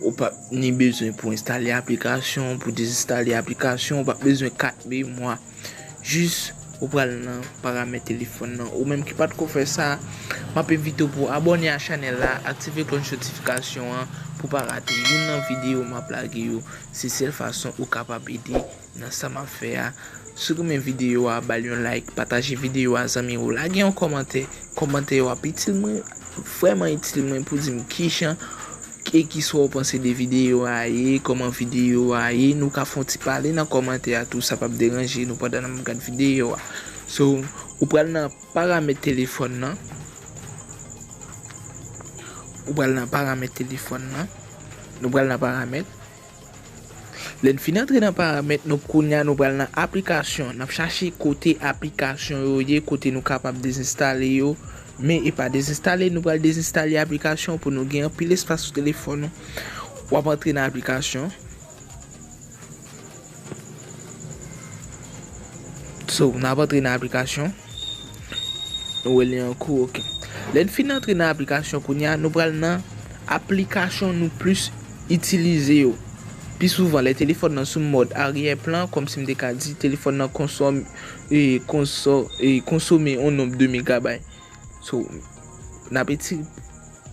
Ou pap ni bezwen pou enstale aplikasyon, pou dezenstale aplikasyon, ou pap bezwen kat memwa. Jis ou pral nan paramèt telefòn nan. Ou menm ki pat ko fè sa, map envite w pou abòne a chanèl la, aktive klòch notifikasyon an pou pa rate youn nan videyo map lage yo. Se sèl fason ou kapab ede. Nan sa map fè a. Si w renmen videyo a bal yon like pataje videyo a zanmi w lage yon kòmantè kòmantè yo ap itil mwen vrèman itil mwen pou dim kijan e kisa w panse de videyo a ye kòman videyo a ye nou ka fon ti pale nan kòmantè a tou sa pap deranje nou pandan nap gad videyo a so ou pral nan paramèt telefòn nan ou pral nan paramèt telefòn nan nou pral nan paramèt. Lè n fin antre nan paramèt nou kounya nou pral nan aplikasyon, nap chache kote aplikasyon yo ye kote nou kapab dezenstale yo, men epa dezenstale nou pral dezenstale aplikasyon pou nou gen anpil espas sou telefòn nou, wap antre nan aplikasyon, so nap antre nan aplikasyon, nou wè li an kou ok, lè n fin antre nan aplikasyon kounya nou pral nan aplikasyon nou plis itilize yo. Pi souvan, lè telefòn nan sou mòd aryè plan, kòmsi m te ka di, telefòn nan konsòm, ee, konsome yon nonb de megabay. So, n ap eti,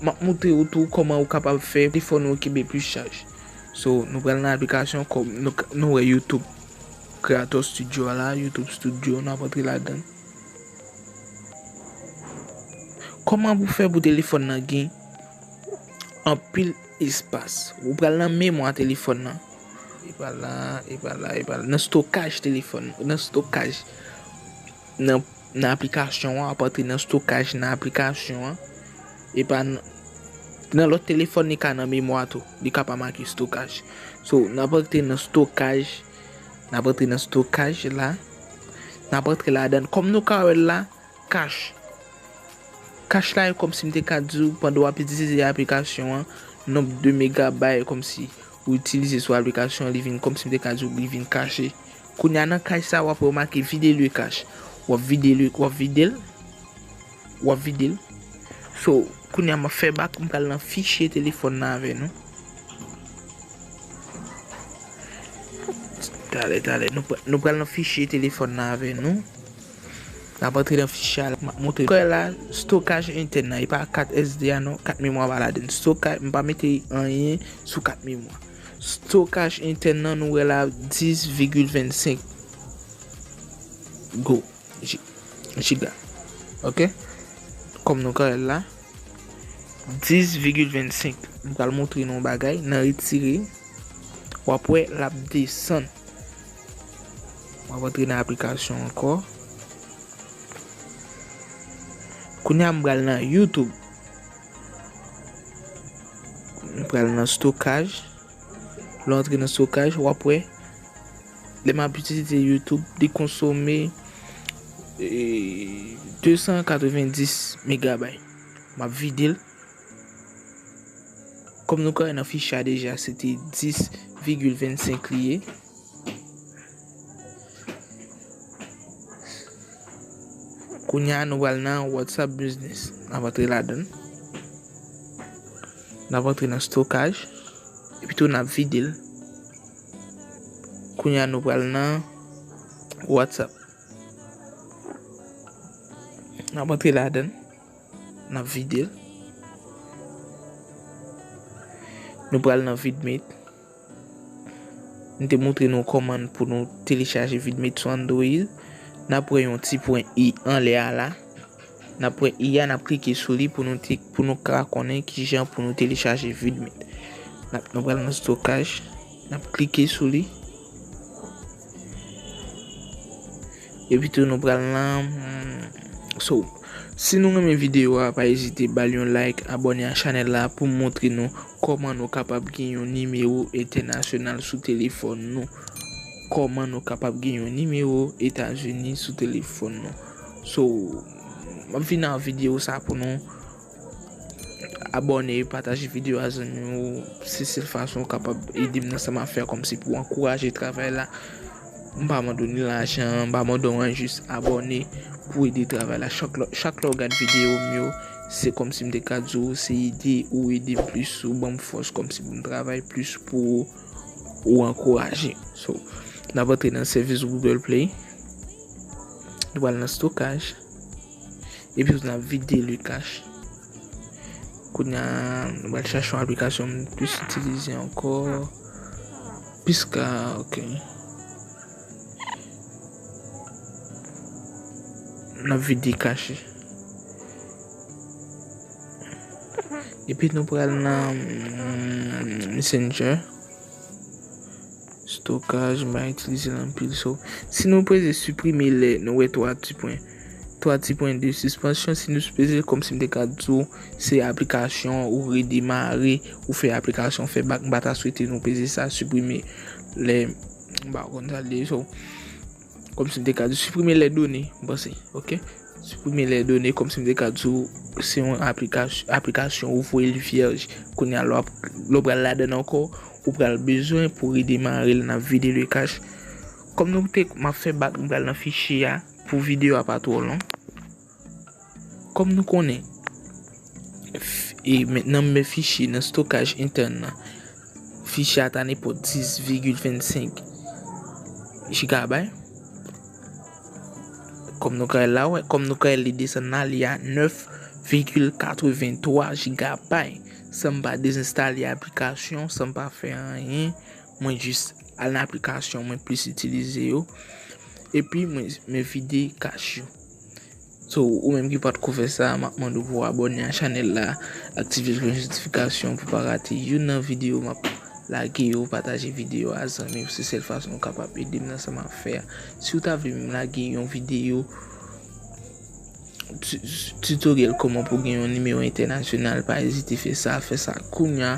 m ap montre ou tou kòman ou kapab fè telefòn ou kenbe plis chaj. So, nou pral nan aplikasyon kòm nou wè YouTube Creator Studio a la, YouTube Studio, n ap antre ladan l. Kòman pou fè pou telefòn nan gen anpil. Espas. Ou pral nan memwa telefòn nan. E pa la, e pa la, e pa la. Nan stokaj telefòn nan. Nan stokaj. Nan aplikasyon an. Wap antre nan stokaj nan aplikasyon an. E pa nan. Nan lòt telefòn li ka nan memwa tou. Li ka pa make stokaj. So, nan ap antre nan stokaj. Nan ap antre nan stokaj la. Nan ap antre ladan. Kòm nou ka wè la. Kach. Kach la e kòmsi m te ka di w pandan w ap itilize aplikasyon an, nonb de megabay e kòmsi ou itilize sou aplikasyon an li vin kòmsi m te ka di w li vin kache. Kounye a nan kach sa a w ap wè yo make vide le kach. W ap vide le, w ap vide l, w ap vide l. So, kounye a m ap fè bak, m pral nan fichye telefòn nan avè nou. Talè, talè, nou pral nan fichye telefòn nan avè nou. N ap antre nan fichye a la. M ap montre kò la stokaj entèn nan. E pa kat SD a non. Kat memwa pa ladan l. Stokaj, m pa mete anyen sou kat memwa. Stokaj entèn nan nou wè la 10 vigil 25 go, jiga. Ok. Kòm nou ka wè l la. 10 vigil 25. M pral montre nou yon bagay nan retire. W ap wè l ap desann. Mwen rantre nan aplikasyon ankò. Kounye a m pral nan YouTube. M pral nan stokaj. Lè w antre nan stokaj, w ap wè. Lè m ap itilize YouTube, li konsome 290 megabay. M ap vide l. Kòm nou ka wè nan fich la deja se te 10,25 li ye. Kounye a nou pral nan WhatsApp Business. N ap antre ladan. N ap antre nan stokaj. Epi tou n ap vide l. Kounye a nou pral nan WhatsApp. N ap antre ladan. Nap videl. Nou pral nan vidmate. M te moutre nou koman pou nou telechaje vidmate sou Android. Nap wè yon ti pwen i anlè a la. Nap pwen i a nap klike sou li pou nou ka konnen kijan pou nou telechaje vidmate. Nou pral nan stokaj. Nap klike sou li. Epi tou nou pral nan. So si nou renmen video a pa ezite bal yon like abone a chanel la pou montre nou koman nou kapab gen yon nimewo entènasyonal sou telefòn nou. Koman nou kapab gen yon nimewo etazini sou telefòn nou. So map vin nan video sa pou nou. Abòne, pataje videyo a zanmi w, se sèl fason ou kapab ede m nan sa m ap fè a kòmsi pou ankouraje travay la. M pa mande w ni lajan, m pa mande w anyen jis abòne pou ede travay la. Chak lè ou gade videyo m yo, se kòmsi m te ka di w se ede ou ede m plis, ou ban m fòs kòmsi pou m travay plis pou ou, ou ankouraje m. So, n ap antre nan sèvis Google Play, nou pral nan stokaj. Epi tout nap vide le cache. Kounya m pral chache yon aplikasyon m plis itilize ankò. Piska ok. Nap vide cache. Epi nou pral nan messenger. Stokaj, ma itilize l anpil so. Si nou peze siprime lè nou wè 3 ti pwen. 3 ti pwen de sispansyon si nou sipreze kòm si m te ka di w se aplikasyon ou redemare ou fè aplikasyon fè bak m pa ta swete nou peze sa siprime lè m pa konn sa l ye so. Kòm si m te ka di siprime lè done, m panse, ok. Siprime lè done kòm si m te ka di ou se yon aplikasyon ou voye li vyèj. Kounye a lè w pral ladann ankò, ou pral bezwen pou redemare l nan vide le kach. Kòm nou te, m ap fè bak m pral nan fichye a pou videyo a pa twò long. Kòm nou konnen, nan men fichye nan stokaj entèn nan, fichye a ta nenpòt 10,25 jigabay. Kòm nou ka wè la, kòm nou ka wè li desann la, li a 9,83 jigabay. San m pa dezenstale aplikasyon, san m pa fè anyen, mwen jis al nan aplikasyon mwen plis itilize yo, epi mwen vide kach yo. So ou menm ki patko fè sa map mande w pou abòne a chanèl la aktive cloche notification pou pa rate youn nan video map lage yo pataje video a zanmi w se sèl fason ou kapab ede m nan sa map fè a si w ta vle m lage yon video tutoriel kòman pou gen yon nimewo entènasyonal pa ezite fè sa fè sa kounya.